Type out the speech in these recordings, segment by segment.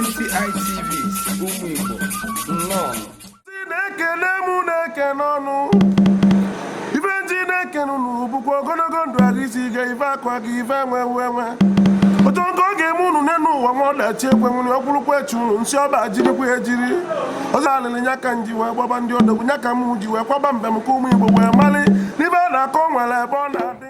NTI TV ụmụ Igbo nnọọ si na-ekele mụ na-ekene unu ife m ji na-ekene unu bụkwa ogologo ndụ ahụ isi ike ife akwa gị ife enwe enwe otu nke ọ ga-eme unu n'enu ụwa nwa ọdachi ekwe nwere ọkwụrụkwa echi unu nsị ọba jirikwa ya ejiri ọzọ alịlị nya ka m ji wee gbaba ndị odogwu nya ka m ji wee kwaba mbem ka ụmụ Igbo wee mali n'ife a na-akọ nwere ebe ọ na-adị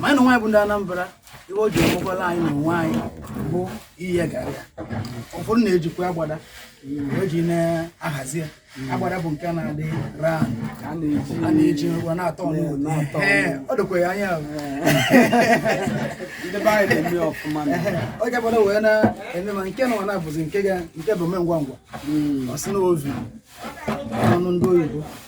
ma anyị na onwe anyị bụ ndị Anambra ihe o ji emekwala anyị na onwe anyị bụ iye garị ụfọdụ na-ejikwa agbada eji na-ahazi ya agbada bụ nke na-adị round a na-eji ngwa na-atọ ọ dịkwa ya anya agbada wee na-eme ma nke na na-abụzi nke bụ ome ngwa ngwa hmm. ọ sị na oven ndị oyibo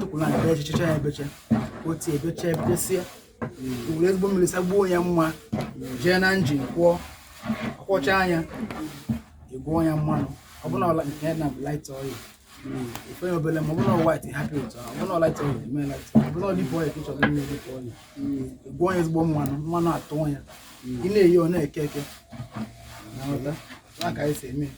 tụkwụlụ ana ebechacha ya ebecha otu ebecha ebesie were ezigbo mmiri sagbuo ya mma jee na injin kwọọ akwọcha nya egwuo ya mmanụ ọ bụrụ na nke na light oil ifenye obele ma ọ bụrụ na white hapụ ya otu ọ bụrụ na light oil eme light ọ bụrụ na deep oil ka ị chọrọ ime deep oil egwuo ya ezigbo mmanụ mmanụ atụọ ya ị na-eye ọ na-eke eke na-aghọta nya ka anyị si eme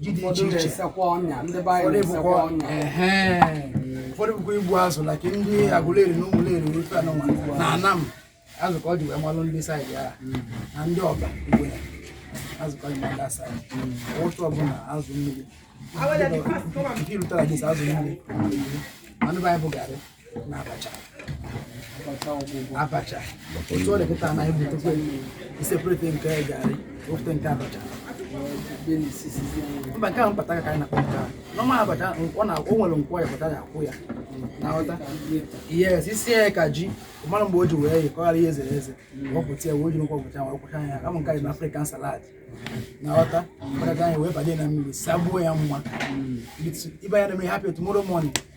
ji dị iche iche ụfọdụ bụkwa igbu azụ like ndị Agụleri na Ụmụleri na ife anụnwa na Anam azụ ka e ji wee malụ ndị side ya na ndị Ọba igbu azụ ka e ji malụ ndị side ụtụ ọbụla azụ mmiri nke irutara gị azụ mmiri ndị be anyị bụ garị abacha otu ọ dị kịta na ebutekwe i separate nke garị ofute nke abacha mba nke ahụ mpataka anyị na-akpọ nke ahụ normal abacha ọ na o nwere nkwọ ya pụta ya akwọ ya na-aghọta yes isi ya ka ji mara mgbe o ji wee yi ka ọ ghara ihe ezere eze wepụta ya wee ji nkwọ pụta wee kwọcha ya kama nke anyị na African salad na-aghọta mpataka anyị wee banye na mmiri sagbuo ya mma ibe ya na mmiri hapụ ya tomorrow morning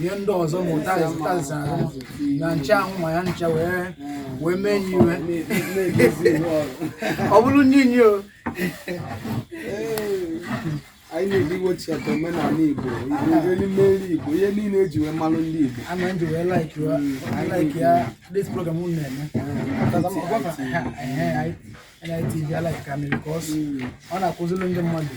ihe ndị ọzọ ma ụtazị tazịsa na ncha ahụ ma ya ncha wee wee mee nye iwe ọ bụrụ nye nye o anyị na-ejiwochi ọtọ omenala Igbo erimeri Igbo ihe niile eji wee malụ ndị Igbo ana m ji wee like ya like ya this program unu na-eme NITV like am because ọ na-akụziri ndị mmadụ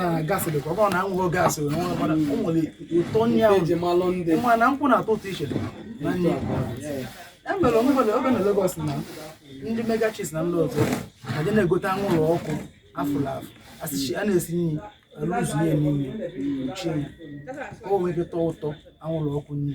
na gas dịkwa ọ bụrọ na enweghị gas o nwere ụtọ nri ahụ ji malụ ndị nwa na nkụ na-atọ ụtọ iche na nri emere onwebele oge na Lagos na ndị mega chefs na ndị ọzọ eje na-egote anwụlụ ọkụ afụrụ afụ asịchi a na-esi nri alụzu ya n'ime uchi ya o nwere ike tọọ ụtọ anwụlụ ọkụ nri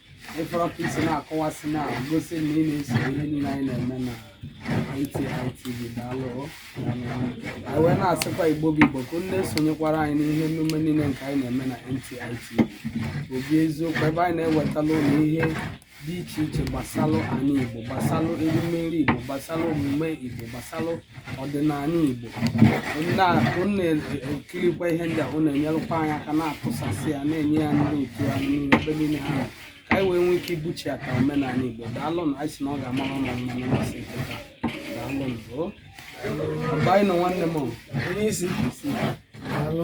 ịfọrọ ka isi na-akọwasị na-egosi na ị na-eso ihe niile anyị na-eme na NTITV daalụ anyị wee na-asịkwa igbo bụ igbo ka unu na-esonyekwara anyị n'ihe emume niile nke anyị na-eme na NTITV obi eziokwu ebe anyị na-ewetala unu ihe dị iche iche gbasalụ anyị igbo gbasalụ erimeri igbo gbasalụ omume igbo gbasalụ ọdịnala Igbo unu na-ekirikwa ihe ndị a unu enyerụkwa anyị aka na-atụsasị ya na-enye ya ndị otu anyị niile ebe niile ha nọ. ka anyị wee nwee ike ibuchi ya ka omenala Igbo daalụnụ anyị sị na ọ ga-amara unu mma nụ masị nketa daalụnụ o ọba anyị nọ nwanne m o. onye isi daalụ